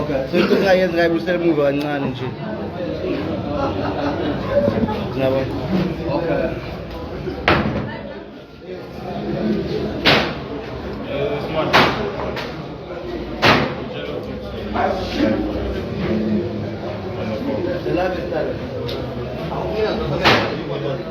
Okay, so into engayenza ngabe usemuva kancane nje. Ngiyabo. Okay.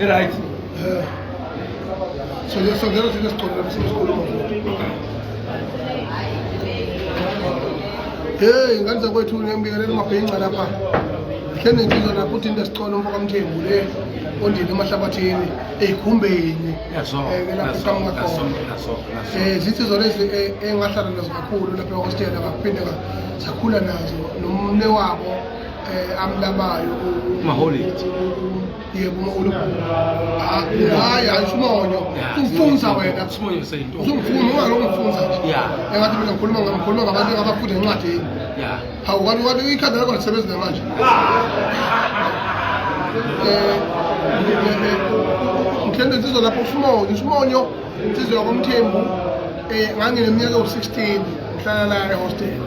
Right. Yeah. So yes, so there is this problem. Hey, ngane zakwethu ngiyambingelela umabhinca lapha. Hlene ngizwa lapho uthi into esicono umfoka mthembu le ondini emahlabathini eyikhumbeni. Yazo. Eh, lapho kamuka khona. Eh, zithi zona ezi eh, engahlala nazo kakhulu lapha ehostel abaphinde sakhula nazo nomne wabo eh, amlabayo maholidi yebo mawulu hayi hayi simonyo umfunza wena simonyo sento umfunza ungaloko umfunza yeah engathi mina ngikhuluma ngikhuluma ngabantu abafunda incwadi yeah hawu kanti kanti ikhanda lakho lisebenza namanje eh ngithanda insizwa lapho simonyo simonyo insizwa yakomthembu eh ngangineminyaka ewu-16 ngihlala la ehostela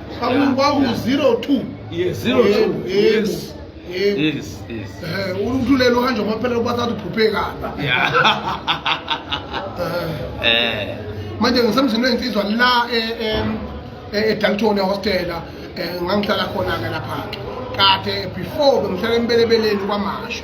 kwaku-02 uthulele uhanje kwaphela kubathatha uphuphekalba manje ngisemzini weyinsizwa la edalton ehostela ngangihlala khona-ke lapha-ke kade before bengihlala embelebeleni kwamasho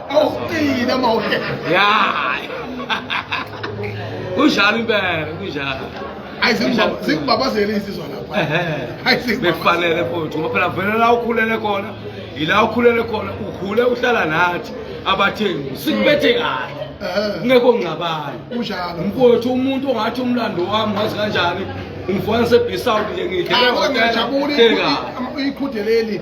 Awuqina mawuke. Yeah. Kunjalo impela, kunjalo. Hayi singibabazele insizwa lapha. Hayi singibabazele futhi ngoba phela vele la ukhulele khona, yila ukhulele khona, ukhule uhlala nathi abathengi. Sikubethe kahle. Ngeke ongcabayo. Kunjalo. Mfowethu umuntu ongathi umlando wami wazi kanjani? Umfowethu sebhisawu nje ngidlela. Hayi ngiyajabula ikhutheleli.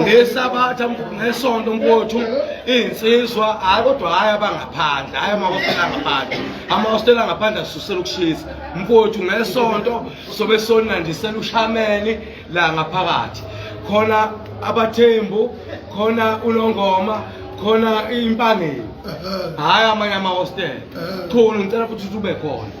ngesabatha ngesonto mfowethu iy'nsizwa hhayi kodwa hhayi abangaphandle hhayi amahostela angaphandle amahostela angaphandle asusela ukushisa mfowethu ngesonto sobe sonandisela ushameni la ngaphakathi khona abathembu khona unongoma khona impangeni hhayi amanye amahostela khona ngicela futhi ukuthi ube khona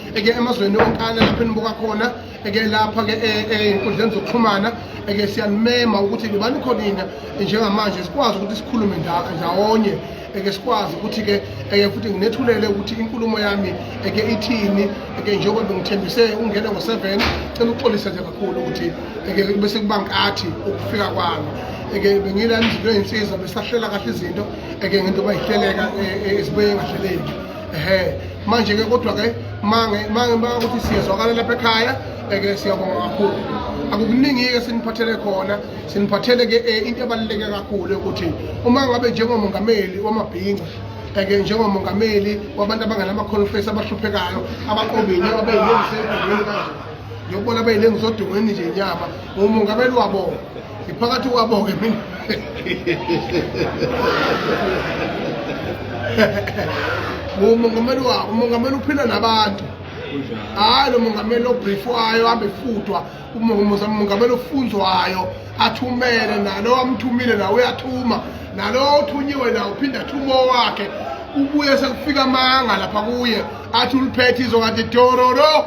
eke emazweni onkana lapho enibuka khona eke lapha ke enkundleni eh, eh, zokuxhumana eke siyanimema ukuthi libani khona ina njengamanje sikwazi ukuthi sikhulume ndawonye eke sikwazi ukuthi ke eke futhi nginethulele ukuthi inkulumo yami eke ithini eke njengoba bengithembise ungene ngo-7 cela uxolise nje kakhulu ukuthi eke bese kuba nkathi ukufika kwami eke bengila emzilweni insizwa besahlela kahle izinto eke ngento bayihleleka eh, ezibuye engahleleki ehe manje-ke kodwa-ke mange mange mpaka ukuthi siyezwakala lapha ekhaya eke siyabonga kakhulu akukuningi-ke siniphathele khona siniphathele-ke um into ebaluleke kakhulu ukuthi uma ngabe njengomongameli wamabhinca eke njengomongameli wabantu abanganamakholofesi abahluphekayo abaqobini ababeyilengise edongweni kanje ngiyokubona abeyilengise odongweni nje nyama ngumongameli wabona ngiphakathi kwabo-ke mina ngumongameli wabo umongameli uphila nabantu hayi lo mongameli obrifwayo ahambe efutwa umongameli ofunzwayo athumele nalo amthumile nawo uyathuma nalo othunyiwe nawo uphinde athume owakhe ubuye sekufika amanga lapha kuye athi uliphethe izokade dororo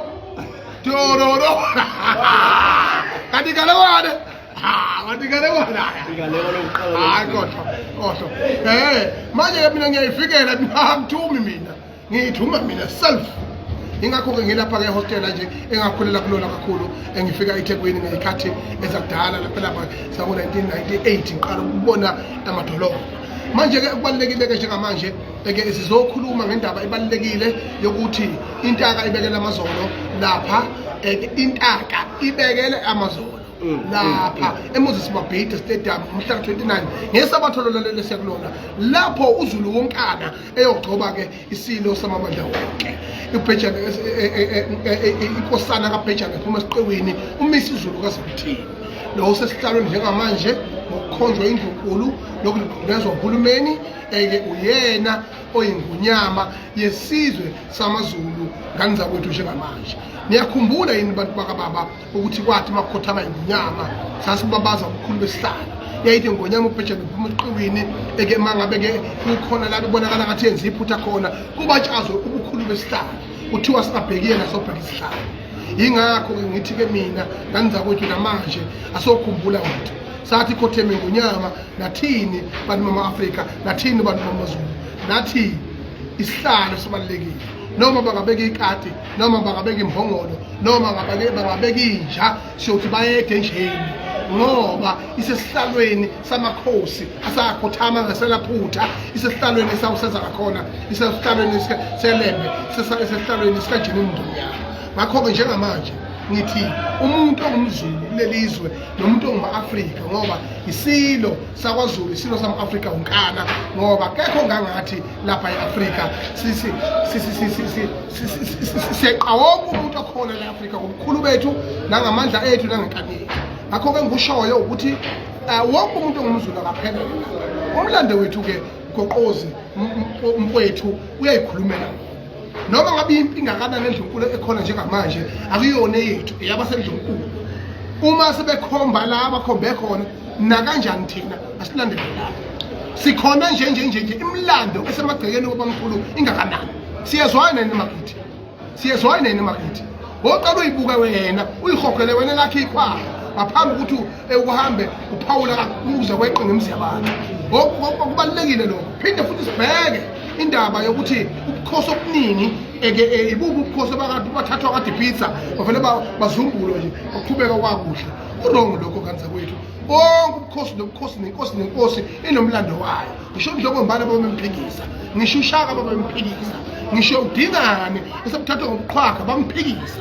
Tororo. Katika lewane. Ah, katika lewane. Katika lewane uqala. Ah, kodwa. Kodwa. Eh, manje ke mina ngiyayifikela ngithumi mina. Ngithuma mina self. Ingakho ke ngilapha ke hostel nje engakhulela kulona kakhulu engifika eThekwini ngeyikhathi ezakudala lapha lapha saku 1998 ngiqala ukubona amadolobha. Manje ke kubalekile ke njengamanje Eke sizokhuluma ngendaba ebalulekile yokuthi intaka ibekela amazolo lapha eke intaka ibekele amazolo Mm, lapha mm, mm. emoses mabhida stadium umhla 29 ngesabatho lolalele siyakulona lapho uzulu wonkana eyogcoba ke isilo samamandla wonke ubhejane inkosana kabhejane ephuma esiqiwini umisa izulu kazakuthini lo sesihlalweni njengamanje ngokukhonjwa indlunkulu lokuligqumezwa uhulumeni Eke uyena oyingunyama yesizwe samaZulu ngani zakwethu njengamanje niyakhumbula yini bantu bakababa ukuthi kwathi uma kukhothama ingunyama sasibabaza ubukhulu besihlala yayithi ngonyama ubhejane phuma eqiwini eke mangabe-ke kukhona la bebonakala ngathi yenza iphutha khona kubatshazwe ubukhulu besihlala kuthiwa singabheki yena sobheka isihlala yingakho-ke ngithi-ke mina ngani zakwethu namanje asokhumbula wethu sathi khotheme ngonyama nathini bantu bama-afrika nathini bantu bamazulu nathi isihlalo sibalulekile noma bangabeka ikati noma bangabeka imbongolo noma bangabeka inja siyothi bayede njeni ngoba isesihlalweni samakhosi asakhothama ngaselaphutha isesihlalweni esawuseza ngakhona isesihlalweni selembe isesihlalweni sikajini mndonyana ngakho-ke njengamanje ngithi umuntu ongumzulu kuleli zwe nomuntu onguma-afrika ngoba isilo sakwazulu isilo sama-afrika unkana ngoba kekho ngangathi lapha e-afrika siyeqawonga umuntu okhona le-afrika ngobukhulu bethu nangamandla ethu nangenkani yethu ngakho-ke ngikushoyo ukuthi um wonke umuntu ongumzulu akaphelele umlando wethu-ke goqozi mfowethu uyayikhulumela noma ngabe impi ingakanani endlunkulu ekhona njengamanje akuyona eyethu eyabasendlunkulu uma sebekhomba la bakhombe khona nakanjani thina asilandele lapho sikhona nje nje nje nje imlando esemagcekeni obamkhulu ingakanani siyezwana yini makithi siyezwana yini makithi woqala uyibuke wena uyihogele wena lakhe ikhwala ngaphambi ukuthi ekuhambe uphawula kakuze kweqe ngemzi yabantu okubalulekile lokho phinde futhi sibheke indaba yokuthi ubukhosi obuningi eke e, ibubu ubukhosi bakade bathathwa kade pizza bavele bazumbulwe nje baqhubeka kwakuhle urongo lokho kanti zakwethu konke ubukhosi nobukhosi nenkosi nenkosi inomlando wayo ngisho njengombana babemphikisa ngisho ushaka babemphikisa ngisho udingane esebuthathwa ngobuqhwaga bamphikisa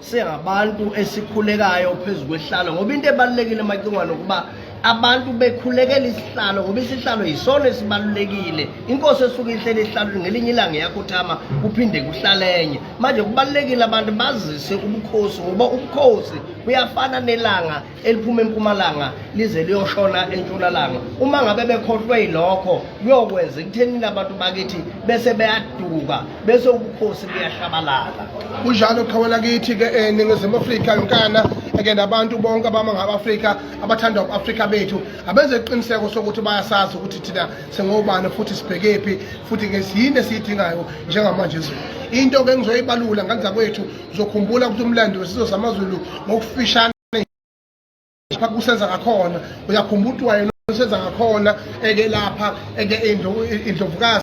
singabantu esikhulekayo phezu kwehlalo ngoba into ebalulekile macingwane ukuba abantu bekhulekela isihlalo ngoba isihlalo yisona esibalulekile inkosi esuke ihlele ihlalweni ngelinye ilanga yakhuthama kuphinde kuhlalenye manje kubalulekile abantu bazise ubukhosi ngoba ubukhosi buyafana nelanga eliphuma empumalanga lize liyoshona entshonalanga uma ngabe bekhohlwe yilokho kuyokwenza ekuthenini abantu bakithi bese beyaduka bese ubukhosi buyashabalala kunjalo qhawela kithi-ke um eh, ningizimu afrika yonkana eke nabantu bonke abama ngaba-afrika abathanda u-afrika bethu abenze iqiniseko sokuthi bayasazi ukuthi thina singobani futhi sibhekephi futhi-ke yini esiyidingayo njengamanje zulu into-ke engizoyibalula nganza kwethu uzokhumbula ukuthi umlando wesizwe samaZulu ngokufishane lapha kusenza ngakhona uyakhumbula ukuthi wayena usenza ngakhona eke lapha eke indlovukazi